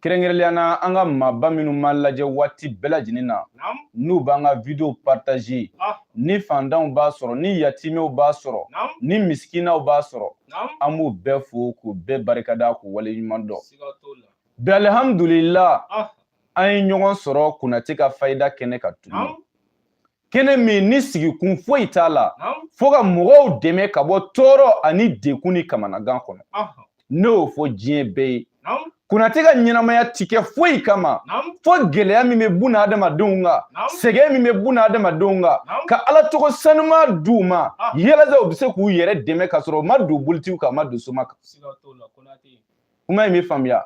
kɛrɛnkɛrɛnlenya na an ka maaba minnu b'an lajɛ waati bɛɛ lajɛlen na n'u b'an ka video partage ah. ni fantanw b'a sɔrɔ ni yatimɛw b'a sɔrɔ ni misikinaw b'a sɔrɔ an b'u bɛɛ fo k'u bɛɛ barikada k'u wale ɲuman dɔn bi alihamudulila ah. an ye ɲɔgɔn sɔrɔ konate ka fayida kɛnɛ kan tuguni kɛnɛ min ni sigikun foyi t'a la fo ka mɔgɔw dɛmɛ ka bɔ tɔɔrɔ ani dekun ni kamanagan kɔnɔ ne y'o fɔ diɲɛ bɛɛ ye konate ka ɲɛnamaya ti kɛ foyi kama fo gɛlɛya min bɛ bun adamadenw kan sɛgɛn min bɛ bun adamadenw kan ka ala tɔgɔ sanuma di u ma yalasa u bɛ se k'u yɛrɛ dɛmɛ k'a sɔrɔ u ma don bolitigiw kan u ma don soma kan kuma in bɛ faamuya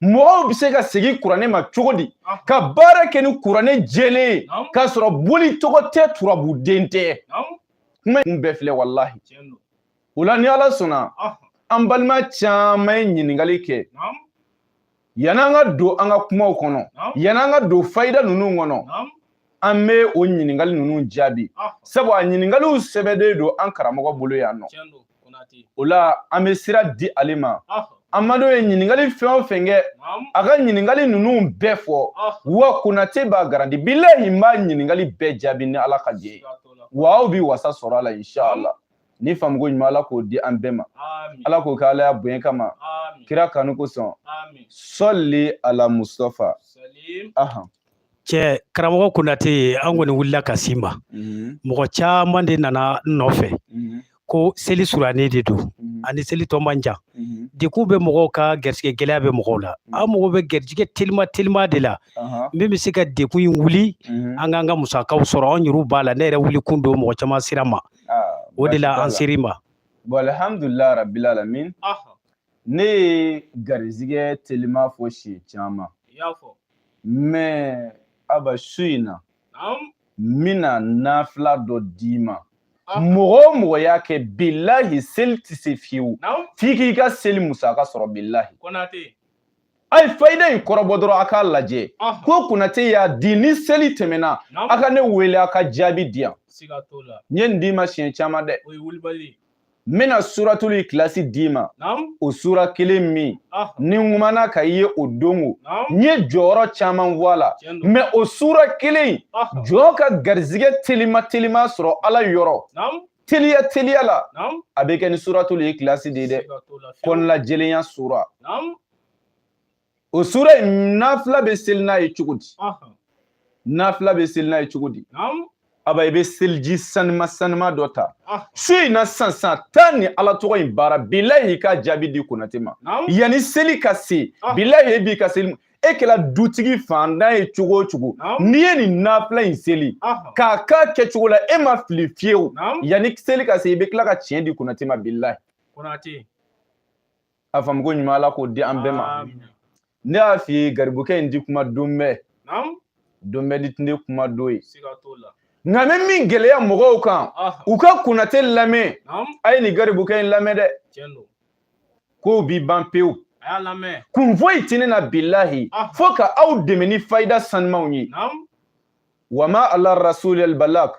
mɔgɔw bɛ se ka segin kuranɛ ma cogo di ka baara kɛ ni kuranɛ jɛlen ye k'a sɔrɔ boli tɔgɔ tɛ turabuden tɛ kuma in bɛɛ filɛ walahi o la ni ala sɔnna an balima caman ye ɲininkali kɛ yan'an ka don an ka kumaw kɔnɔ yan'an ka don fayida ninnu kɔnɔ an bɛ o ɲininkali ninnu jaabi sabu a ɲininkaliw sɛbɛnnen don an karamɔgɔ bolo yan nɔ o la an bɛ sira di ale ma an badenw ye ɲininkali fɛn o fɛn kɛ a ka ɲininkali ninnu bɛɛ fɔ wa konate b'a garanti bilahi n b'a ɲininkali bɛɛ jaabi ni ala ka jɛn ye wa aw bi wasa sɔrɔ a la inshallah ni faamuko ɲuman ala k'o di an bɛɛ ma ala k'o kɛ ala y'a bonya kama kira kanu kosɔn sɔli ala mustafa ahan cɛ karamɔgɔ konate an kɔni wulila ka s'i ma mm-hmm. mɔgɔ caman de nana n nɔfɛ mm-hmm. ko seli surannen de don mm-hmm. ani seli tɔ man jan dekun bɛ mɔgɔw kan garisɛgɛ gɛlɛya bɛ mɔgɔw la an mago bɛ garijɛgɛ telima telima de la uh-huh. min bɛ se ka dekun in wuli an kan ka musakaw sɔrɔ an yɛrɛw b'a la ne yɛrɛ wulikun don mɔgɔ caman sira ma ah, o de la an ser'i ma alhamdulilayi rabbil alamin ne ye garizigɛ telima fɔ siɲɛ caman i y'a fɔ mɛ aba su in na naamu n bɛna nafila dɔ d'i ma Ah. mɔgɔ o mɔgɔ y'a kɛ bilahi seli tɛ se fiyewu naamu f'i k'i ka seli musaka sɔrɔ bilahi konate a ye fayida in kɔrɔbɔ dɔrɔn a k'a lajɛ ɔhɔn ko konate y'a di ni seli tɛmɛna a naamu ka ne wele a ka jaabi di yan siga t'o la n ye nin d'i ma siɲɛ caman dɛ o ye wulibali ye n bɛna suratulu ikilasi d'i ma o sura kelen min ni n kuman'a kan i ye o don o n ye jɔyɔrɔ caman fɔ a la mɛ o sura kelen jɔn ka garizigɛ telima telima sɔrɔ ala yɔrɔ teliya teliya la a bɛ kɛ ni suratulu ikilasi de ye dɛ kɔnɔnajɛlenya sura o sura in nafila bɛ seli n'a ye cogo di nafila bɛ seli n'a ye cogo di aba i bɛ seliji sanima sanima dɔ ta su in na sisan sisan taa nin ala tɔgɔ in baara bilayi i ka jaabi di konate ma yanni seli ka se bilayi e b'i ka seli e kɛra dutigi faantan ye cogo o cogo n'i ye nin nafila in seli k'a k'a kɛcogo la e ma fili fiyewu yanni seli ka se i bɛ tila ka tiɲɛ di konate ma bilayi konate a faamuko ɲuman ala k'o di an bɛɛ ma ne y'a f'i ye garibukɛ in ti kuma don bɛɛ don bɛɛ dun tɛ kuma don ye nka n bɛ min gɛlɛya mɔgɔw kan u ka konate lamɛn a ye nin garibukɛ in lamɛn dɛ kow bi ban pewu kun foyi tɛ ne na bilahi fo ka aw dɛmɛ ni fayida sanumanw ye wa ma ala rasulil balak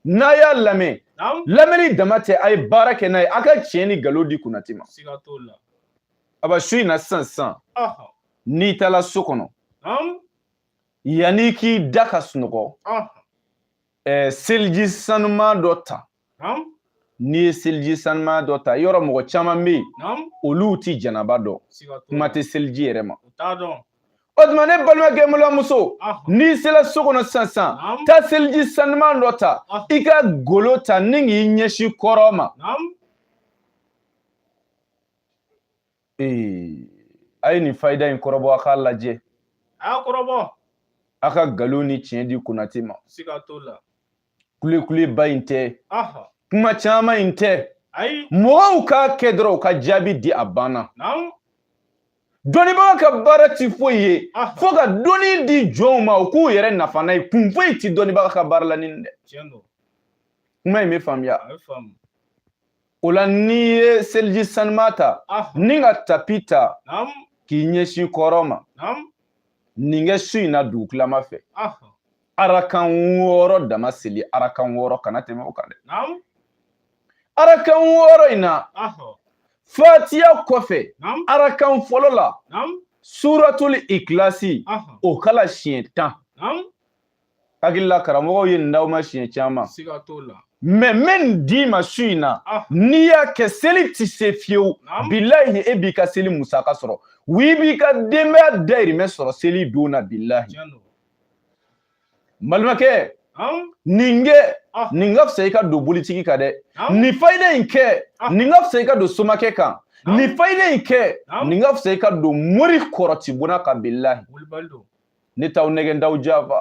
n'a y'a lamɛn lamɛnni dama tɛ a ye baara kɛ n'a ye a ka tiɲɛ ni nkalon di konate ma aba su in na sisan sisan n'i taara so kɔnɔ yanni k'i da ka sunɔgɔ seliji sanuman dɔ ta n'i ye seliji sanuma dɔ ta yɔrɔ mɔgɔ caman bɛ yen olu tɛ janaba dɔn kuma tɛ seliji yɛrɛ ma o tuma ne balimakɛ balimamuso n'i sera so kɔnɔ sisan sisan taa seliji sanuma dɔ ta i ka golo ta ni k'i ɲɛsin kɔrɔn ma ee a ye nin fayida in kɔrɔbɔ a k'a lajɛ a y'a kɔrɔbɔ a ka nkalon ni tiɲɛ di konate ma siga t'o la kulekuleba in tɛ kuma caman in tɛ mɔgɔw k'a kɛ dɔrɔn u ka jaabi di a banna dɔnnibaga ka baara ti foyi ye fo ka dɔnni di jɔnw ma u k'u yɛrɛ nafa n'a ye kun foyi ti dɔnnibaga ka baara la nin dɛ kuma in bɛ faamuya o la n'i ye seliji sanuma ta ni ka tapi ta k'i ɲɛsin kɔrɔn ma nin kɛ su in na dugutilama fɛ arakan wɔɔrɔ dama seli arakan wɔɔrɔ kana tɛmɛ o kan dɛ arakan wɔɔrɔ in na fatiya kɔfɛ arakan fɔlɔ la suratul ikilasi o kalan siɲɛ tan hakili la karamɔgɔw ye nin d'aw ma siɲɛ caman mais n bɛ min d'i ma su in na n'i y'a kɛ seli tɛ se fiyewu bilahi e b'i ka seli musaka sɔrɔ w'i b'i ka denbaya dayirimɛ sɔrɔ seli don na bilahi balimakɛ nin kɛ ah. nin ka fisa i ka don bolitigi kan dɛ nin fayida in kɛ ah. nin ka fisa i ka don somakɛ kan nin fayida in kɛ nin ka fisa i ka don mori kɔrɔtibonna kan bilahi ne t'aw nɛgɛn t'aw janfa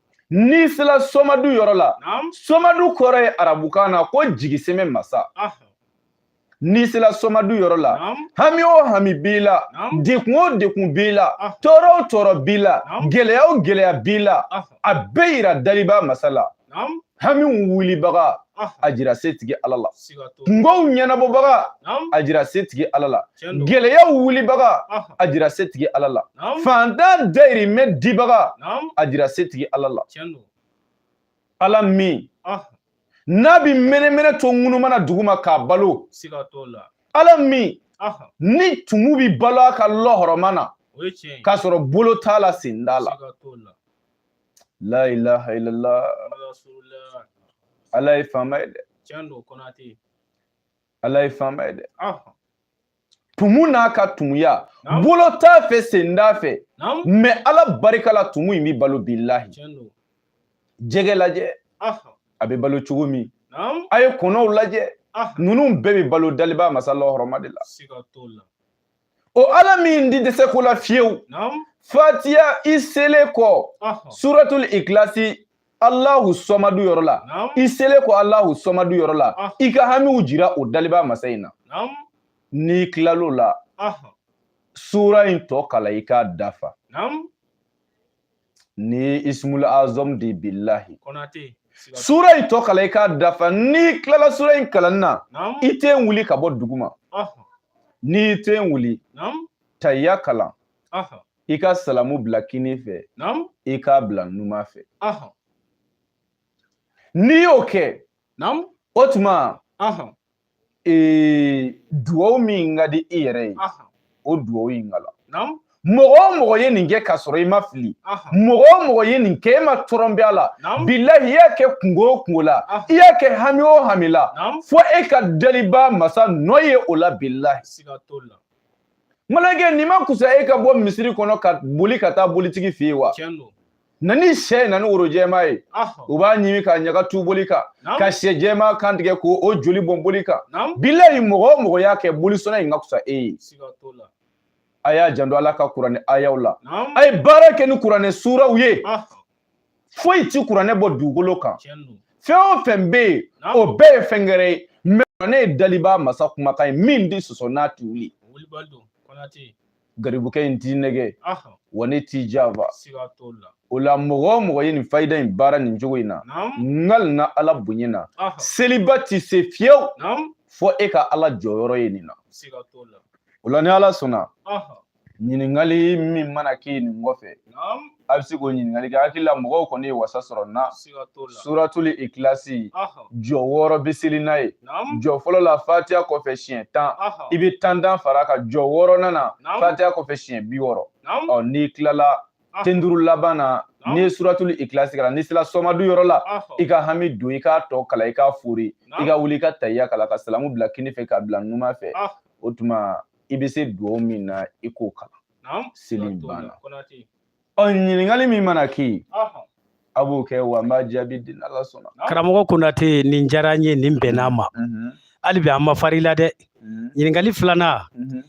n'i sela somadu yɔrɔ la somadu kɔrɔ ye arabukan na ko jigisɛmɛ masa n'i sela somadu yɔrɔ la hami o hami b'i la dekun o dekun b'i la tɔɔrɔ o tɔɔrɔ b'i la gɛlɛya o gɛlɛya b'i la a bɛɛ yira daliba masa la hamiw wulibaga a jira setigi ala la kungow ɲɛnabɔbaga a jira setigi ala la gɛlɛyaw wulibaga a jira setigi ala la fantan dayirimɛ dibaga a jira setigi ala la ala min n'a bi mɛnɛmɛnɛ to ŋunumana duguma k'a balo ala min ni tumu bi balo a ka lɔhɔrɔma na k'a sɔrɔ bolo t'a la sen t'a la La ilaha illallah. Ala ye faama ye dɛ. Tiɲɛ don Konate. Ala ye faama ye dɛ. Tumu n'a ka tumuya. Bolo t'a fɛ sen t'a fɛ. Mɛ Ala barika la tumu in bi balo bilahi. Tiɲɛ don. Jɛgɛ lajɛ. A bɛ balo cogo min. A ye kɔnɔw lajɛ. Ninnu bɛɛ bɛ balo daliba masa lɔhɔrɔma de la. Siga t'o la. o ala min di dɛsɛ ko la fiyewu fatiya i selen kɔ suratul ikilasi alahu sɔmadu yɔrɔ la i selen kɔ alahu sɔmadu yɔrɔ la i ka hamiw jira o daliba masa in na n'i tilal'o la sura in tɔ kalan i k'a dafa ni ismul azam di billahi konate sura in tɔ kalan i k'a dafa n'i tilala sura in kalanni na i tɛna wuli ka bɔ duguma n'i tɛna wuli tayya kalan i ka salamu bila kini fɛ i k'a bila numa fɛ n'i y'o kɛ o tuma ee duwawu min ka di i yɛrɛ ye o duwawu in kalan mɔgɔ o mɔgɔ ye nin kɛ k'a sɔrɔ i ma fili mɔgɔ o mɔgɔ ye nin kɛ e ma tɔrɔnbɛ a la bilahi i y'a kɛ kungo o kungo la i y'a kɛ hami o hami la fo e ka daliba masa nɔ ye o la bilahi malakɛ nin ma kusa e ka bɔ misiri kɔnɔ ka boli ka taa bolitigi fɛ yen wa na ni sɛ ye na ni woro jɛma ye u b'a ɲimi ka ɲaga tu boli kan ka sɛ jɛma kan tigɛ k'o joli bɔn boli kan bilayi mɔgɔ o mɔgɔ y'a kɛ bolisɔnna in ka kusa e ye a y'a janto ala ka kuranɛ ayaw la a ye baara kɛ ni kuranɛ suraw ye foyi ti kuranɛ bɔ dugukolo kan fɛn o fɛn bɛ yen o bɛɛ ye fɛn gɛrɛ ye mɛ kuranɛ ye daliba masa kumakan ye min di sɔsɔ n'a ti wuli garibukɛ in t'i nɛgɛ wa ne t'i janfa o la mɔgɔ o mɔgɔ ye nin fayida in baara nin cogo in na n kalina ala bonya na seliba ti se fiyewu fo e ka ala jɔyɔrɔ ye nin na o la ni ala sɔnna ɲininkali min mana kɛ nin kɔfɛ a bɛ se k'o ɲininkali kɛ hakili la mɔgɔw kɔni ye wasa sɔrɔ na suratuli ikilasi jɔ wɔɔrɔ bɛ seli n'a ye jɔ fɔlɔ la fatiya kɔfɛ siɲɛ tan i bɛ tan tan far'a kan jɔ wɔɔrɔnan na fatiya kɔfɛ siɲɛ bi wɔɔrɔ ɔ n'i tilala ten duuru laban na n'i ye suratuli ikilasi kalan n'i sera sɔmadu yɔrɔ la i ka hami don i k'a tɔ kalan i ka fori i ka wuli i ka tayiya kalan ka salamu bila kinin fɛ k'a bila numan fɛ o tuma i bɛ se dugawu min na i k'o kalan Naam. Seli banna. Konate. Ɔ ɲininkali min mana k'i ye. Ɔhɔn. A b'o kɛ wa n b'a jaabi di n'Ala sɔnna. Karamɔgɔ Konate nin diyara n ye nin bɛnna n ma. Unhun. Hali bi an ma far'i la dɛ. Unhun. Ɲininkali filanan. Unhun.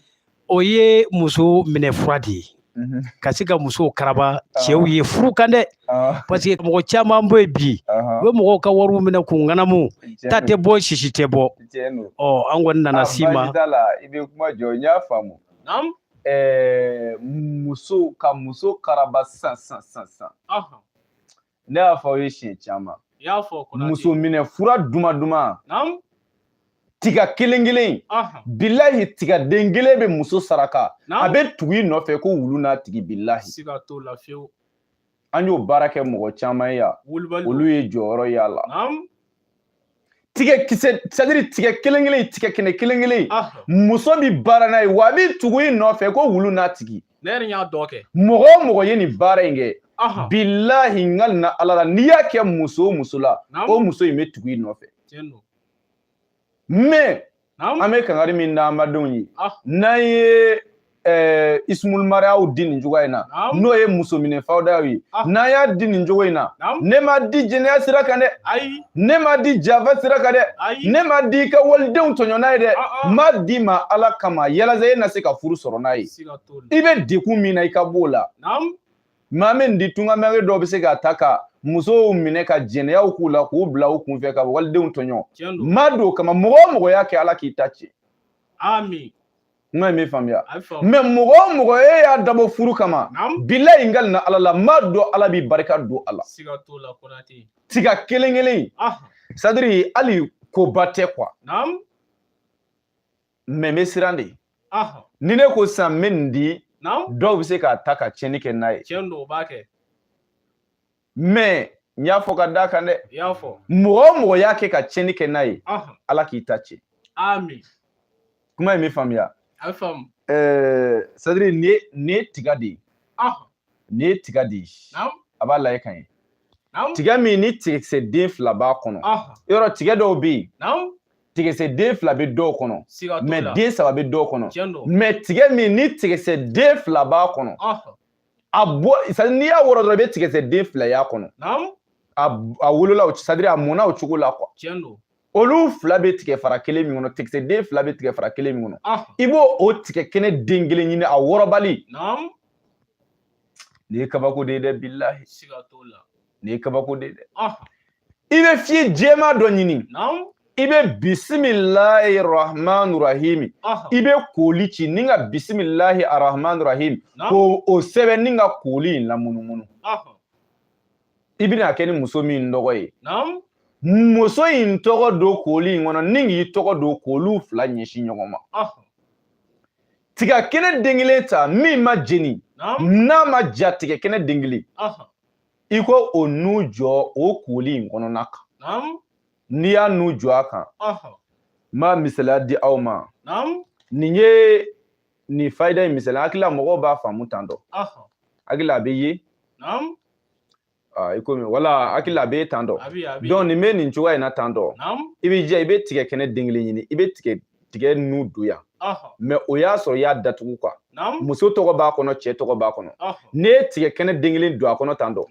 O ye muso minɛ fura de ye. Unhun. Ka se ka musow karaba cɛw ye furu kan dɛ. Ɔɔ. Parce que mɔgɔ caman bɛ yen bi. Ɔhɔn. U bɛ mɔgɔw ka wariw minɛ k'u ŋanamu. Tiɲɛ don. Ta tɛ bɔ sisi tɛ bɔ. Tiɲɛ don. Ɔ an kɔni nana s'i ma. Aa, baasi t'a la. I bɛ kuma jɔ n y'a faamu. Naam. ɛɛ muso ka muso karaba sisan sisan sisan sisan Ɔhɔn. ne y'a fɔ aw ye siɲɛ caman I y'a fɔ Konate. muso minɛ fura duman duman Naamu. tiga kelen kelen Ɔhɔn. bilahi tigaden kelen bɛ muso saraka Naamu. a bɛ tugu i nɔfɛ ko wulu n'a tigi bilahi Siga t'o la fiyewu. an y'o baara kɛ mɔgɔ caman ye yan olu ye jɔyɔrɔ ye a la tigɛ kisɛ c'est-à-dire tigɛ kelen kelen tigɛ kɛnɛ kelen kelen muso bi baara n'a ye wa a bi tugu i nɔfɛ ko wulu n'a tigi ne yɛrɛ y'a dɔ kɛ mɔgɔ o mɔgɔ ye nin baara in kɛ bilahi n kalila ala la n'i y'a kɛ muso o muso la o muso in bɛ tugu i nɔfɛ mais an bɛ kangari min da an badenw ye ah. n'an ye eh, ismul mariyaw di nin cogoya in na n'o ye muso minɛ fayidaw ye ah. n'an y'a di nin cogo in na ne m'a di jɛnɛya sira kan dɛ ne m'a di janfa sira kan dɛ ne m'a di i ka walidenw tɔɲɔ n'a ye dɛ ah, n b'a d'i ma ala kama yalasa e na se ka furu sɔrɔ n'a ye i bɛ degun min na i ka b'o la maa min di tuma min kɛ dɔ bɛ se k'a ta ka musow minɛ ka jɛnɛyaw k'u la k'u bila u kunfɛ ka walidenw tɔɲɔ n m'a d'o kama mɔgɔ o mɔgɔ y'a kɛ ala k'i ta tiɲɛ amiina n kan bɛ faamuya mais mɔgɔ o mɔgɔ e y'a dabɔ furu kama bilahi n kalila ala la n b'a dɔn ala bɛ barika don a la tiga kelen kelen c'est-à-dire hali koba tɛ quoi mais n bɛ siran de ni ne ko sisan n bɛ nin di dɔw bɛ se k'a ta ka tiɲɛni kɛ n'a ye mais n y'a fɔ ka d'a kan dɛ mɔgɔ o mɔgɔ y'a kɛ ka tiɲɛni kɛ n'a ye ala k'i ta tiɲɛ kuma in bɛ faamuya c'est-à-dire nin ye tiga de ye nin ye tiga de ye a b'a lajɛ ka ɲɛ tiga min ni tigakisɛ den fila b'a kɔnɔ yɔrɔ tiga dɔw bɛ yen tigakisɛ den fila bɛ dɔw kɔnɔ mɛ den saba bɛ dɔw kɔnɔ mɛ tiga min ni tigakisɛ den fila b'a kɔnɔ a bɔ n'i y'a wɔrɔ dɔrɔn i bɛ tigakisɛ den fila y'a kɔnɔ a wolola o sadiri a mɔna o cogo la olu fila bɛ tigɛ fara kelen min kɔnɔ tigakisɛ den fila bɛ tigɛ fara kelen min kɔnɔ i b'o o tigɛ kɛnɛ den kelen ɲini a wɔrɔbali Nin ye kabako de ye dɛ bilahi siga t'o la nin ye kabako de ye dɛ ah. i bɛ fiye jɛma dɔ ɲini i bɛ bisimilahi rahmani rahimi ah. i bɛ kooli ci ni ka bisimilahi rahmani rahimi ko o sɛbɛn ni ka kooli in lamunumunu ah. i bɛna kɛ ni muso min tɔgɔ ye muso in tɔgɔ don kooli in kɔnɔ ni k'i tɔgɔ don kooliw fila ɲɛsin ɲɔgɔn ma tiga kɛnɛ den kelen ta min ma jeni n'a ma ja tigɛ kɛnɛ den kelen i ko o nu jɔ o kooli in kɔnɔna kan n'i y'a nu jɔ a kan n b'a misaliya di aw ma nin ye nin fayida in misaliya hakili la mɔgɔw b'a faamu tan dɔ hakili la a bɛ ye Ah, i komi wala hakili la a bɛ ye tan dɔ donc nin bɛ nin cogoya in na tan dɔ i bɛ jija i bɛ tigɛ kɛnɛ den kelen ɲini i bɛ tigɛ tigɛ nu don yan mɛ o y'a sɔrɔ i y'a datugu kuwa muso tɔgɔ b'a kɔnɔ cɛ tɔgɔ b'a kɔnɔ n'i ye tigɛ kɛnɛ den kelen don a kɔnɔ tan dɔ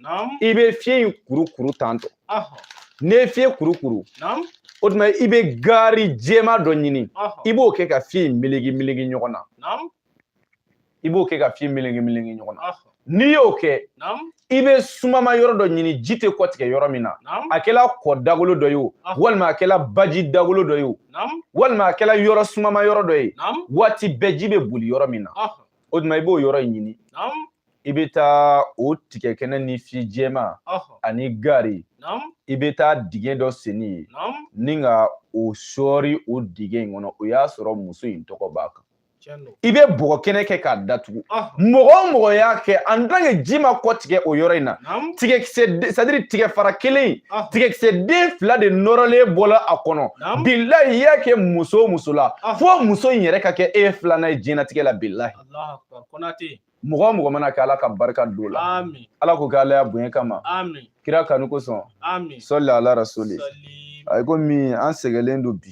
i bɛ fiye in kuru kuru tan dɔ n'i ye fiye kuru kuru o tuma i bɛ gaari jɛma dɔ ɲini i b'o kɛ ka fiye in melege melege ɲɔgɔn na i b'o kɛ ka fiye melege melege ɲɔgɔn na n'i y'o kɛ i bɛ sumama yɔrɔ dɔ ɲini ji tɛ kɔtigɛ yɔrɔ min na a kɛla kɔ dagolo dɔ ye o walima a kɛla baji dagolo dɔ ye o walima a kɛla yɔrɔ sumama yɔrɔ dɔ ye waati bɛɛ ji bɛ boli yɔrɔ min na o tuma i b'o yɔrɔ in ɲini i bɛ taa o tigɛ kɛnɛ ni fiye jɛma ani gaari i bɛ taa dingɛ dɔ sen yen ni ka o sɔɔri o dingɛ in kɔnɔ o y'a sɔrɔ muso in tɔgɔ b'a kan i bɛ bɔgɔ kɛnɛ kɛ k'a datugu ah. mɔgɔ o mɔgɔ y'a kɛ en tant que ji ma kɔtigɛ o yɔrɔ in na tigɛkisɛ sadiri tigɛ fara kelen ah. tigɛkisɛ den fila de nɔrɔlen bɔla a kɔnɔ bilahi i y'a kɛ muso o muso la ah. fo muso in yɛrɛ ka kɛ e filanan ye diɲɛnatigɛ la bilahi mɔgɔ o mɔgɔ man'a kɛ ala ka barika don a la ala k'o kɛ ala ya bonya kama kira kanu kosɔn sɔli ala rasuli a komi an sɛgɛnlen don bi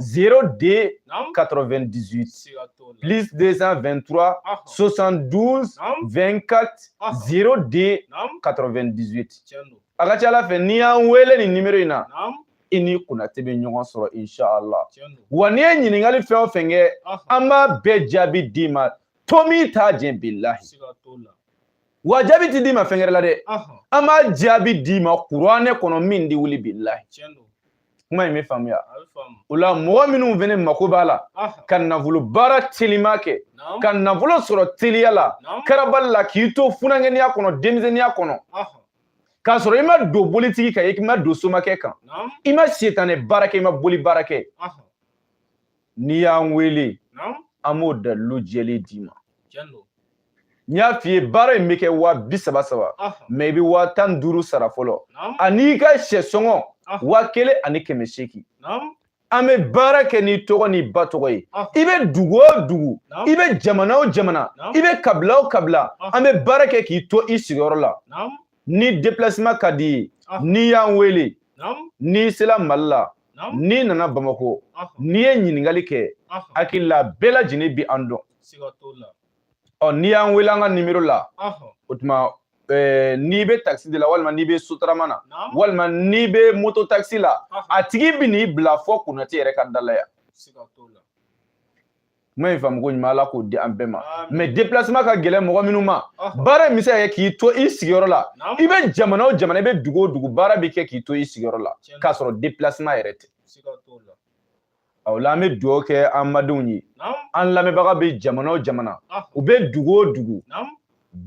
02 98 plus 223 72 24 02 98 a ka ca ala fɛ n'i y'an wele nin nimero in na i ni konate bɛ ɲɔgɔn sɔrɔ inshala wa n'i ye ɲininkali fɛn o fɛn kɛ an b'a bɛɛ jaabi d'i ma to min t'a jɛ bilahi wa jaabi tɛ d'i ma fɛn wɛrɛ la dɛ an b'a jaabi d'i ma kuranɛ kɔnɔ min ti wuli bilahi kuma in bɛ faamuya o la mɔgɔ minnu fɛnɛ mako b'a la ka nafolo baara telima kɛ ka nafolo sɔrɔ teliya la karabali la k'i to funankɛniya kɔnɔ denmisɛnniya kɔnɔ k'a sɔrɔ i ma don bolitigi kan i ma don somakɛ kan i ma sitanɛ baara kɛ i ma boli baara kɛ n'i y'an wele an b'o dalilu jɛlen d'i ma n y'a f'i ye baara in bɛ kɛ waa bi saba saba mɛ i bɛ waa tan ni duuru sara fɔlɔ an'i ka sɛ sɔngɔ waa kelen ani kɛmɛ seegin an bɛ baara kɛ n'i tɔgɔ n'i ba tɔgɔ ye i bɛ dugu o dugu i bɛ jamana o jamana i bɛ kabila o kabila an bɛ baara kɛ k'i to i sigiyɔrɔ la ni déplacement ka d'i ye n'i y'an wele n'i sera mali la n'i nana bamakɔ n'i ye ɲininkali kɛ hakili la bɛɛ lajɛlen bi an dɔn ɔ n'i y'an wele an ka nimero la o tuma eh, n'i bɛ takisi de la walima n'i bɛ sotarama na walima n'i bɛ moto takisi la a tigi bi n'i bila fo konate yɛrɛ ka da la yan kuma in faamuko ɲuman ala k'o di an bɛɛ ma mɛ déplacement ka gɛlɛn mɔgɔ minnu ma baara in bɛ se ka kɛ k'i to i sigiyɔrɔ la i bɛ jamana o jamana i bɛ dugu o dugu baara bɛ kɛ k'i to i sigiyɔrɔ la k'a sɔrɔ déplacement yɛrɛ tɛ o la an bɛ dugawu kɛ an badenw ye an lamɛnbaga bɛ jamana o jamana u bɛ dugu o dugu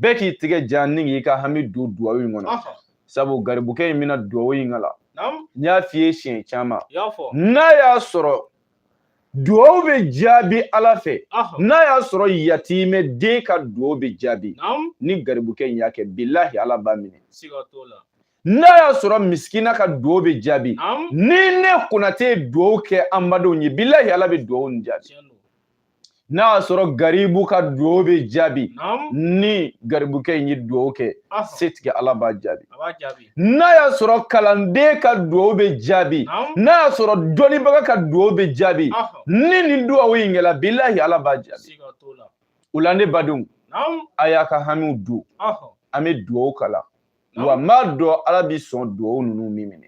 bɛɛ k'i tigɛ jan ni k'i ka hami don dugawu in kɔnɔ sabu garibukɛ in bɛna dugawu in kalan n y'a f'i ye siɲɛ caman n'a y'a sɔrɔ duwawu bɛ jaabi ala fɛ n'a y'a sɔrɔ yatimɛ den ka duwawu bɛ jaabi ni garibukɛ in y'a kɛ bilahi ala b'a minɛ n'a y'a sɔrɔ misikina ka duwawu bɛ jaabi ni ne konate ye duwawu kɛ an badenw ye bilahi ala bɛ duwawu nin jaabi n'a y'a sɔrɔ garibu ka duwawu bɛ jaabi ni garibukɛ in ye duwawu kɛ setigi ala b'a jaabi n'a y'a sɔrɔ kalanden ka dugawu bɛ jaabi n'a y'a sɔrɔ dɔnnibaga ka dugawu bɛ jaabi ni nin dugawu in kɛla bilahi ala b'a jaabi o la ne badenw a y'a ka hamiw don an bɛ dugawu kalan wa n b'a dɔn ala bɛ sɔn dugawu ninnu bɛ minɛ